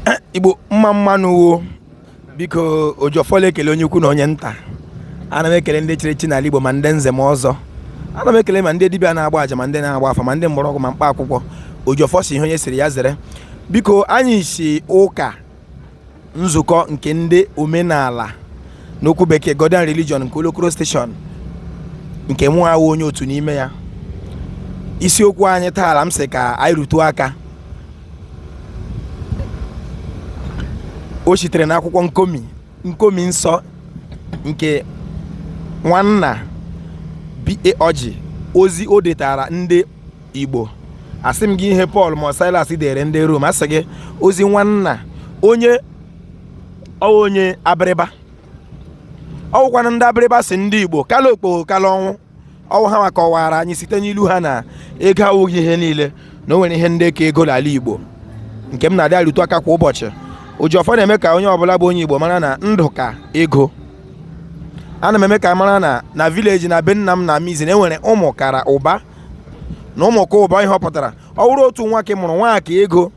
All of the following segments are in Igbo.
Eh, igbo mma mma nụ wo biko Ojiọfọ la-ekele onye ukwu na onye nta ana m ekele ndị chiri echi n'ala igbo ma ndị nze ma ọzọ ana m ekele ma ndị dibịa na-agba aja ma ndị na-agba afa ma ndị mgbọrọgwụ ma mkpa akwụkwọ ojiọfọ sị ihe onye chiri ya zere biko anyị si ụka nzukọ nke ndị omenala n'okwu bekee Godian Religion nke Olokoro Station nke mụ awụ onye otu n'ime ya isiokwu anyị taala m sị ka anyị rụtụọ aka o sitere n'akwụkwọ nkomi nkomi nsọ nke nwanna B.A. Ọjị ozi o detara ndị Igbo asị m gị ihe Pọl ma Silas dere ndị Rom asị gị ozi nwanna onye ọ wụ onye Abịrịba ọ wụkwanụ ndị Abịrịba sị ndị Igbo kala okpogho kala ọnwụ ọ wụ ha nwa kọwaara anyị site n'ilu ha na ego awụghị ihe niile na o nwere ihe ndị ka ego n'ala Igbo nke m na-adị arụtụ aka kwa ụbọchị Ojiọfọ na-eme ka onye ọbụla bụ onye Igbo mara na ndụ ka ego ana m eme ka a mara na na vileji na be nna m n'Amizi na e nwere ụmụ kara ụba na ụmụ ka ụba ihe ọ pụtara ọ wụrụ otu nwa ka ị mụrụ nwa ka ego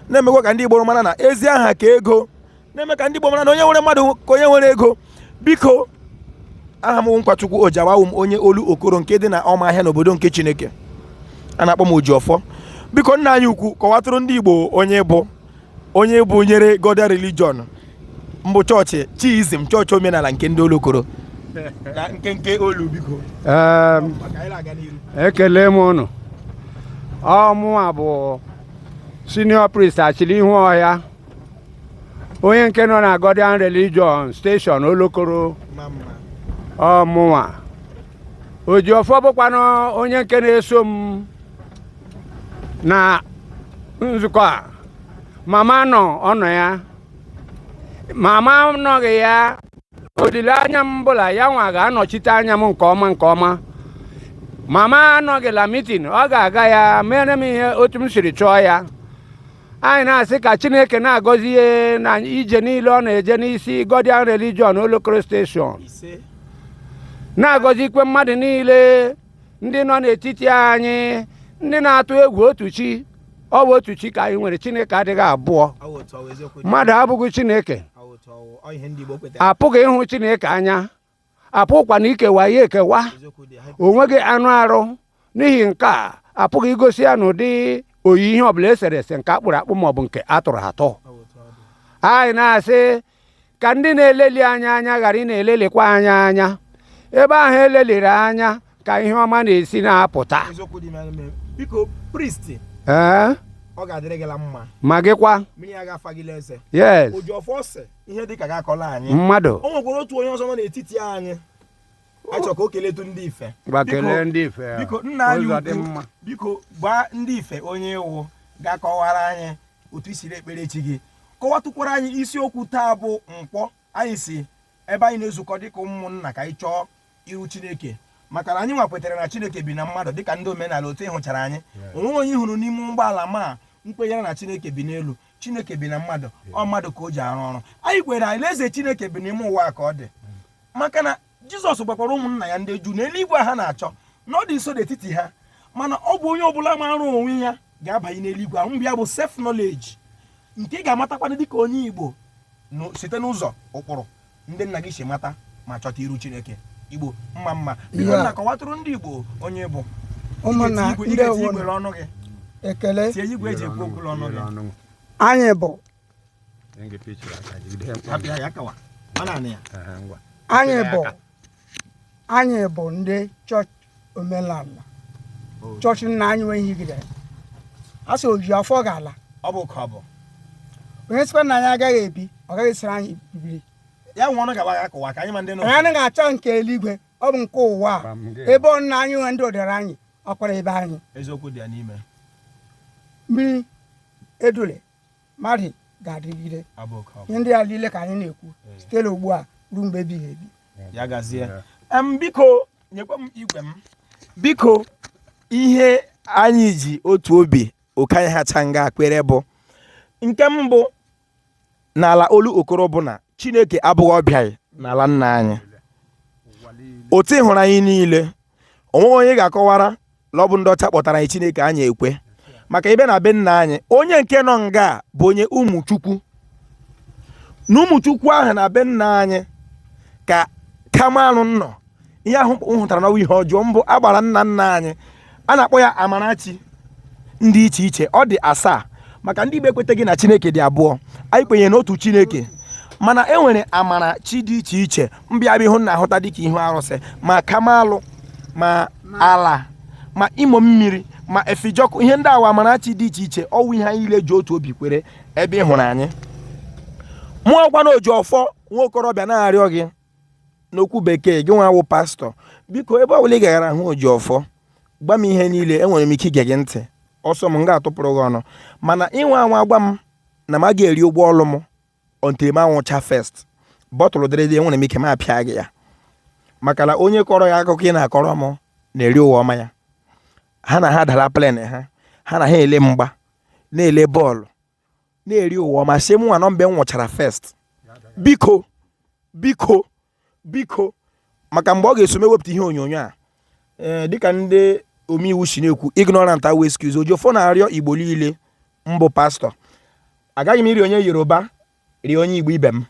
na-emekwa ka ndị Igbo mara na ezi aha ka ego na-eme ka ndị Igbo mara na onye nwere mmadụ ka onye nwere ego biko aha m wụ Nkwachukwu Ojawa awụ m onye Olokoro nke dị na Ụmụahịa n'obodo nke Chineke a na-akpọ m Ojiọfọ biko nna anyị ukwu kọwatụrụ ndị Igbo onye bụ onye bụ nyere Godian religion mbụ chọọchị chiizm chọọchị omenala nke ndị Olokoro na nkenke olu biko ekele m ụnụ ọ mụwa bụ senior priest Achirihu Ọhịa onye nke nọ na Godian Religion Station Olokoro ọ mụnwa Ojiọfọ bụkwanụ onye nke na-eso m na nzukọ a ma m anọ ọ nọ ya ma m anọghị ya olileanya m bụ la ya nwa ga-anọchite anya m nke ọma nke ọma ma m anọghị la mitin ọ ga-aga ya meere m ihe otu m siri chọọ ya anyị na-asị ka chineke na-agọzi ya na ije niile ọ na-eje n'isi godian religion olokoro steshọn na-agọzikwa mmadụ niile ndị nọ n'etiti anyị ndị na-atụ egwu otu chi ọ bụ otu chi ka anyị nwere chineke adịghị abụọ mmadụ abụghị chineke apụghị ịhụ chineke anya apụkwana ikewa ya ekewa onweghị anụ arụ n'ihi nke a apụghị igosi ya n'ụdị oyi ihe ọbụla esere ese nke akpụrụ akpụ maọbụ nke atụrụ atụ anyị na-asị ka ndị na-eleli anya anya ghara ịna-elelikwa anya anya ebe ahụ eleliri anya ka ihe ọma na-esi na-apụta eziokwu dị n'ime ime. biko priest ee ọ ga-adịrị gị la mma ma gịkwa mmiri ya ga-afa gị n'eze yes oji ọfọ ose ihe dịka gị akọla anyị mmadụ o nwekwara otu onye ọzọ nọ n'etiti anyị achọ ka o keletu ndị ife gwa Biko- kelee ndị ife ya. biko nna anyị ụzọ dị ukwu mma biko gwa ndị ife onye ị wụ ga-akọwara anyị otu i siri ekpere chi gị kọwatụkwara anyị isiokwu taa bụ nkwọ anyị si ebe anyị na-ezukọ dịka ụmụnna ka anyị chọọ iru chineke maka na anyị nwa kwetara na chineke bi na mmadụ dịka ndị omenala otu ị hụchara anyị onwe onye hụrụ n'ime ụgbọala ma nkwenyere na chineke bi n'elu chineke bi na mmadụ ọ mmadụ ka o ji arụ ọrụ anyị kwere alaeze chineke bi n'ime ụwa ka ọ dị maka na jizọs gwakwara ụmụnna ya ndị juu na eluigwe ha na-achọ na ọ dị nso n'etiti ha mana ọ bụ onye ọbụla maara onwe ya ga-abanye n'eluigwe ahụ ya bụ self knowledge nke ị ga-amatakwana dịka onye igbo site n'ụzọ ụkpụrụ ndị nna gị si mata ma chọta iru chineke igbo mma mma biko nna kọwatụrụ ndị igbo onye ị bụ ụmụnna ndị igwe ọnụ gị ekele tie igwe eji ekwu okwu ọnụ gị anyị bụ anyị bụ anyị bụ ndị chọọchị omenala chọọchị nna anyị nwee ihe gidere a sị oji ọfọ ga-ala ọ bụ ka ọ bụ onye sịkwa na anyị agaghị ebi ọ gaghị esiri anyị bibiri ya nwa ọnụ gaba ga kụwa ka anyị ma ndị nọ anyị anaghị achọ nke eluigwe ọ bụ nke ụwa a ebe ọ nna anyị nwee ndị odere anyị ọkwara ebe anyị eziokwu dị ya n'ime mmiri edule mmadụ ga-adịgide ihe ndị a niile ka anyị na-ekwu eh. site na ugbu a ruo mgbe ebighị ebi ya gazie biko nyekwa m igwe m biko ihe anyị ji otu obi oke anyị hacha nga a kwere bụ nke mbụ n'ala olokoro bụ na chineke abụghị ọbịa n'ala nna anyị otu ị hụrụ anyị niile onweghị onye ga-akọwara la ọ bụ ndị ọcha kpọtara anyị chineke anyị ekwe maka ibe na be nna anyị onye nke nọ nga a bụ onye ụmụchukwu na ụmụchukwu ahụ na be nna anyị ka kamalụ nọ ihe ahụ m hụtara na ọ wụ ihe ọjọọ mbụ agbara nna nna anyị a na-akpọ ya amara chi dị iche iche ọ dị asaa maka ndị igbo ekweteghị na chineke dị abụọ anyị kwenyere n'otu chineke mana e nwere amara chi dị iche iche mbịabịa ihu na-ahụta dịka ihu arụsị ma kamalụ ma ala ma imo mmiri ma efijọkụ ihe ndị a wụ amara chi dị iche iche ọ wụ ihe anyị ile ji otu obi kwere ebe ị hụrụ anyị mụ wụkwanụ oji ọfọ nwa okorobịa na-arịọ gị n'okwu bekee gị nwa wụ pastor biko ebe ọbụla ị gaghara hụ oji ọfọ gwa m ihe niile enwere m ike ige gị ntị ọ sọ m m ga-atụpụrụ gị ọnụ mana ị nwaa anwa gwa m na m agaghị eri ụgwọ ọlụ m until m anwụchaa first bottle dịrị dị enwere m ike m apịa gị ya maka na onye kọrọ ya akụkọ ị na-akọrọ m na-eri ụwa ọma ya ha na ha dara plane ha ha na ha ele mgba na-ele ball na-eri ụwa ọma sị mụnwa nọ mgbe m nwụchara first biko biko biko maka mgbe ọ ga-eso m ewepụta ihe onyonyo a ee eh, dịka ndị omeiwu si na-ekwu ignorant awụ excuse oji ọfọ na-arịọ igbo niile m bụ pastor agaghị m ịrịọ onye yoruba rịọ onye igbo ibe m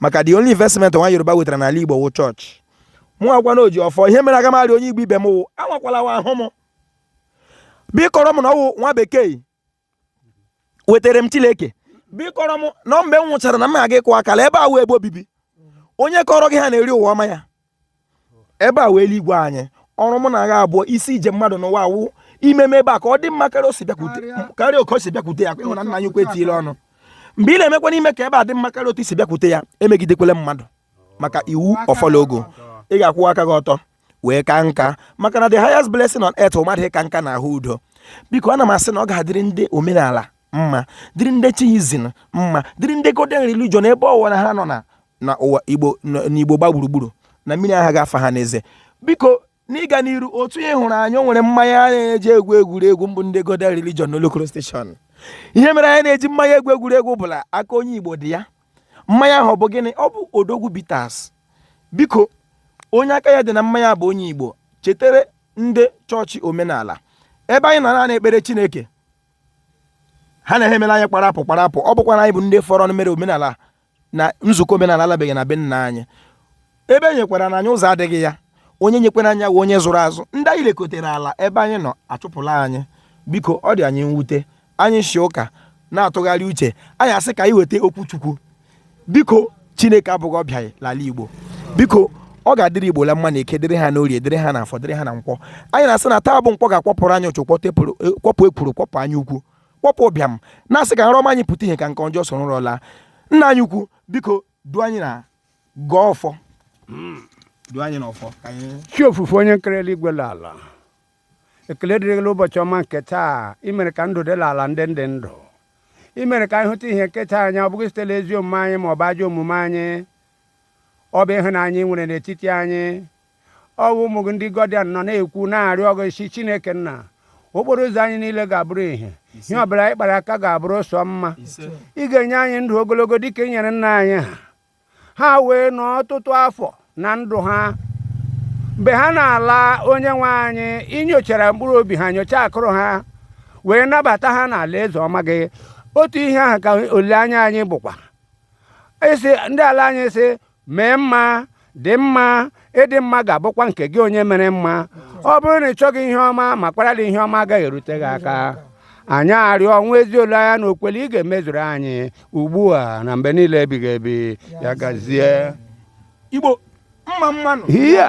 maka the only investment nwa yoruba wetara n'ala igbo wụ church mụ wụkwanụ oji ọfọ ihe mere aga m arịọ onye igbo ibe m wụ anwakwala anwa hụ m bịa kọọrọ m na ọ wụ nwa bekee wetara m Chineke bịa kọọrọ m na mgbe m nwụchara na m aga ịkụ akala ebe a wụ ebe obibi onye kọrọ gị ha na-eri ụwa ọma ya ebe a wụ eluigwe anyị ọrụ mụ na agha abụọ isi ije mmadụ n'ụwa awụ imeme ebe a ka ọ dị mma karịa o si bịakwute karịa oke o si bịakwute ya ị hụ na nna anyị ukwu etinyele ọnụ mgbe ị na-emekwanụ ime ka ebe a dị mma karịa otu i si bịakwute ya emegidekwele mmadụ maka iwu ọfọ la ogu ị ga-akwụwa aka gị ọtọ wee ka nka maka na the highest blessing on earth mmadụ ịka nka na ahụ udo biko ana m asị na ọ ga-adịrị ndị omenala mma dịrị ndị chiism mma dịrị ndị godian religion ebe ọwụla ha nọ na na ụwa igbo n'igbo gba gburugburu na mmiri agaghị afa ha n'eze biko n'ịga n'iru otu ị hụrụ anyị o nwere mmanya a na-eji egwu egwuregwu m bụ ndị godian religion n'olokoro station ihe mere anyị na-eji mmanya egwu egwuregwu bụ la aka onye igbo dị ya mmanya ahụ ọ bụ gịnị ọ bụ odogwu bitters biko onye aka ya dị na mmanya bụ onye igbo chetere ndị church omenala ebe anyị na-anọ ekpere chineke ha na-emela anyị kparapụ kparapụ ọ bụkwa na anyị bụ ndị fọrọ mere omenala na nzukọ omenala alabeghị na be nna anyị ebe e nyekwara na anya ụzọ adịghị ya onye nyekwara anya wụ onye zụrụ azụ ndị anyị lekotere ala ebe anyị nọ achụpụla anyị biko ọ dị anyị mwute anyị si ụka na-atụgharị uche anyị asị ka anyị weta okwu chukwu biko chineke abụghị ọbịa l'ala igbo biko ọ ga-adịrị igbo la mma na eke dịrị ha n'orie dịrị ha na afọ dịrị ha na nkwọ anyị na-asị na taa bụ nkwọ ga-akwọpụrụ anyị uchu kwọpụ e, ekworo kwọpụ anya ukwu kwọpụ ụbịam na-asị ka nrọ ọma anyị pụta ihe ka nke ọjọọ soro ụra laa nna anyị ukwu biko duo anyị na gọọ ọfọ duo anyị n'ọfọ ka anyị chi ofufe onye nkere eluigwe na ala ekele dịrị gị n'ụbọchị ọma nke taa i mere ka ndụ dị n'ala ndị dị ndụ i mere ka anyị hụta ihe nke taa anya ọ bụghị site n'ezi omume anyị ma ọ bụ ajọ omume anyị ọ bụ ịhụnanya i nwere n'etiti anyị ọ bụ ụmụ gị ndị gọdian nọ na-ekwu na-arịọ gị sị chineke nna okporo ụzọ anyị niile ga-abụrụ ihe ihe ọ bụla anyị kpara aka ga-abụrụ sọ mma ị ga-enye anyị ndụ ogologo dịka i nyere nna anyị ha ha wee nọ ọtụtụ afọ na ndụ ha mgbe ha na-ala onye nwe anyị i nyochara mkpụrụ obi ha nyocha akụrụ ha wee nabata ha n'ala eze ọma gị otu ihe ahụ ka olileanya anyị bụkwa esi ndị ala anyị sị mee mma dị mma ịdị mma ga-abụkwa nke gị onye mere mma ọ bụrụ na ị chọghị ihe ọma ma kpara dị ihe ọma agaghị erute gị aka anyị arịọ nwee ezi olileanya na okwukwe na ị ga-emezuru anyị ugbu a na mgbe niile ebighị ebi ya gazie igbo mma mma nụ hịa